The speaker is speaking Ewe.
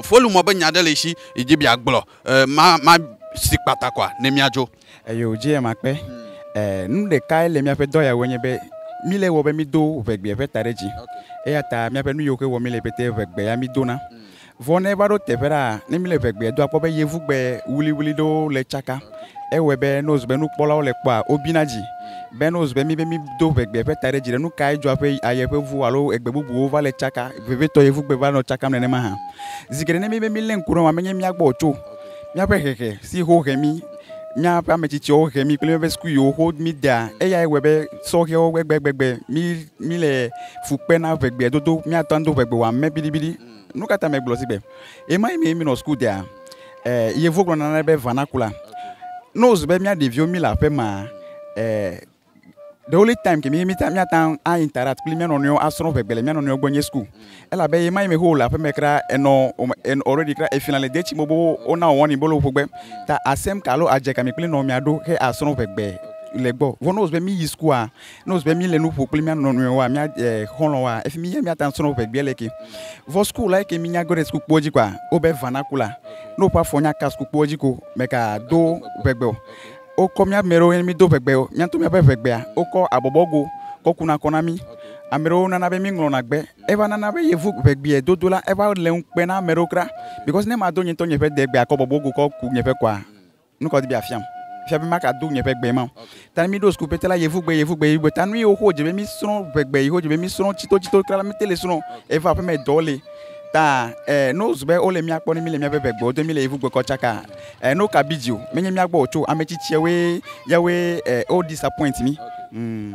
Folu mɔ be nya ɖe le esi yi dzi bia gblɔ e ma ma si kpata kɔa ne mia dzo. Eyo dzi ema kpe. E nu ɖeka yi le mia ƒe dɔ ya wɔ nye be mi le wɔ be mi do ʋegbea ƒe ta ɖe dzi. Eya ta mia ƒe nu yiwo ke wɔ mi le pɛtɛ ʋegbe ya mi dona. Vɔ ne va ɖo teƒe ɖaa ne mi le ʋegbea do akpɔ be yevugbe wuliwuli ɖewo le tsaka. Ewɔe be ne wòzu be nukpɔlawo le kpɔa, wobina dzi. Be ne wòzu be míbe mído ʋegbe ƒe taɖedzi ɖe nu kae dzɔ aƒe aye ƒe ŋu alo egbe bubuwo va le tsaka vevitɔ ye ŋugbe va nɔ tsakam nenema hã. Zi geɖe ne míbe mílé ŋku ɖe eŋua menye mía gbɔ o tso míaƒe hehe si ho he mí, míaƒe ame tsitsiawo he mí kple míaƒe sukuviwo ho mí dea. Eyae wɔe be sɔhɛwo gbegbegbegbe mí míle fu kpe na ʋegbea dodo. Míate ŋu ado ʋegbe wɔ ame biɖibiɖi. Nu ka ta megblɔ zi be ɣemaɣi mee mínɔ suku dea? Yevuwo gblɔna na be vernacular. Ne wòzu be mía ɖeviwo míle aƒe mea, the only time ke mi míate ŋu a interact kpli mía nɔnɔewo asrɔ̃ ʋegbe le mía nɔnɔewo gbɔ nye school. Elabe ɣemaɣi yi me wole aƒe me kura enɔ already kura efin le de tsi me be wona wò warning be wole wò ƒo gbe ta asem ka alo adze ka mi kple nɔviawo aɖo he asrɔ̃ ʋegbe le gbɔ. Vɔ ne wòzu be míyi sukua, Ne wòzu be míle nu ƒo kple mía nɔ nɔewoa, mía eh, xɔlɔ̃woa, efi mi yɛ míate ŋu asrɔ̃ ʋegbea le ke. Vɔ sukukula yi ke mínya ge ɖe sukukpoa dzi koa, wobe vanakula. Ne woƒe afɔ nya ka sukukpoa dzi ko, mègado ʋegbe o. Wokɔ mía ame ɖewo yɛ mído ʋegbe o. Mía ŋutɔ míaƒe ʋegbea, wokɔ abɔbɔgo kɔ kuna kɔ na mí. Ame ɖewo nana be míŋlɔna gbe. Eva nana be yevu ʋegbeɛ dodo la, eva le ŋukpe na ame ɖewo kura. Because ne mado nye ŋutɔ nye ƒe degbea kɔ bɔbɔgo kɔ ku nye ƒe kɔa, Nu ka wòdi be yeafiam? Efia be magado nye ƒe gbe ma o. Ta ne míɖo suku pɛtɛ la, yevugbe, yevugbe, yevugbe. Ta nu yiwo ke wodze be mísrɔ̃, ƒe gbe yiwo wodze be mísrɔ̃ tsitotsito kura la, míete le srɔ̃ o. Evɔ aƒeme dɔwo li. Ta ɛɛ, ne wozu be wole mía kpɔm ne míle míaƒe ƒe gbewo dom, míle yevugbe kɔ tsaka ɛɛ, ne woka bidzi o, menye mía gbɔ wòtso o. Ame tsitsiawoe, yawoe ɛɛ, wo disappoint mí. Ŋ.